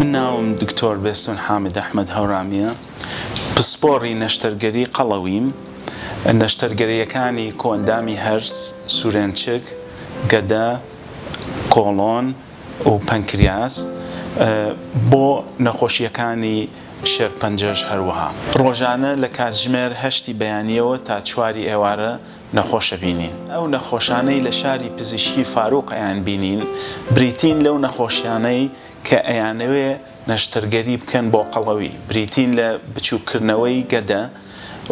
من ناوم دکتۆر بێستون حامد ئەحمەد هەورامییە پسپۆڕی نەشتەرگەری قەڵەویم نەشتەرگەریەکانی کۆئەندامی هەرس سورێنچک گەدە کۆڵۆن و پەنکریاس بۆ نەخۆشییەکانی شێرپەنجەش هەروەها ڕۆژانە لە کاتژمێر هەشتی بەیانیەوە تا چواری ئێوارە نەخۆشە بینین. ئەو نەخۆشانەی لە شاری پزیشکی فاروق ئەیان بینین بریتین لەو نەخۆشیانەی کە ئەیانەوێ نەشتەرگەری بکەن بۆ قەڵەوی بریتین لە بچووک کردنەوەی گەدە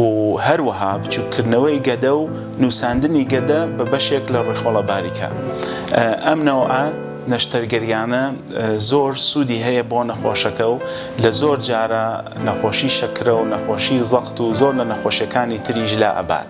و هەروەها بچووک کردنەوەی گەدە و نووساندنی گەدە بە بەشێک لە ڕیخۆڵە باریکە ئەم نەوعە نەشتەرگەریانە زۆر سوودی هەیە بۆ نەخۆشەکە و لە زۆر جارە نەخۆشی شەکرە و نەخۆشی زەقت و زۆر لە نەخۆشیەکانی تریش لا ئەبات.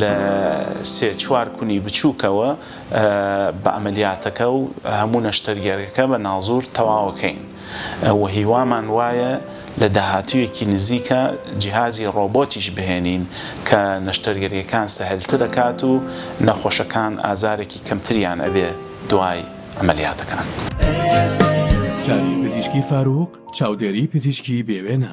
لە سێ چوار کونی بچووکەوە بە عەمەلیاتەکە و هەموو نەشتەرگەرەکە بە ناڵزوور تەواوەکەین و هیوامان وایە لە داهاتوویەکی نزیکە جیهازی ڕۆبۆتیش بهێنین کە نەشتەرگەریەکان سەهلتر ئەکات و نەخۆشەکان ئازارێکی کەمتریان ئەبێ دوای عەمەلیاتەکان. چاوی پزیشکی فارووق چاودێری پزیشکی بێوێنە.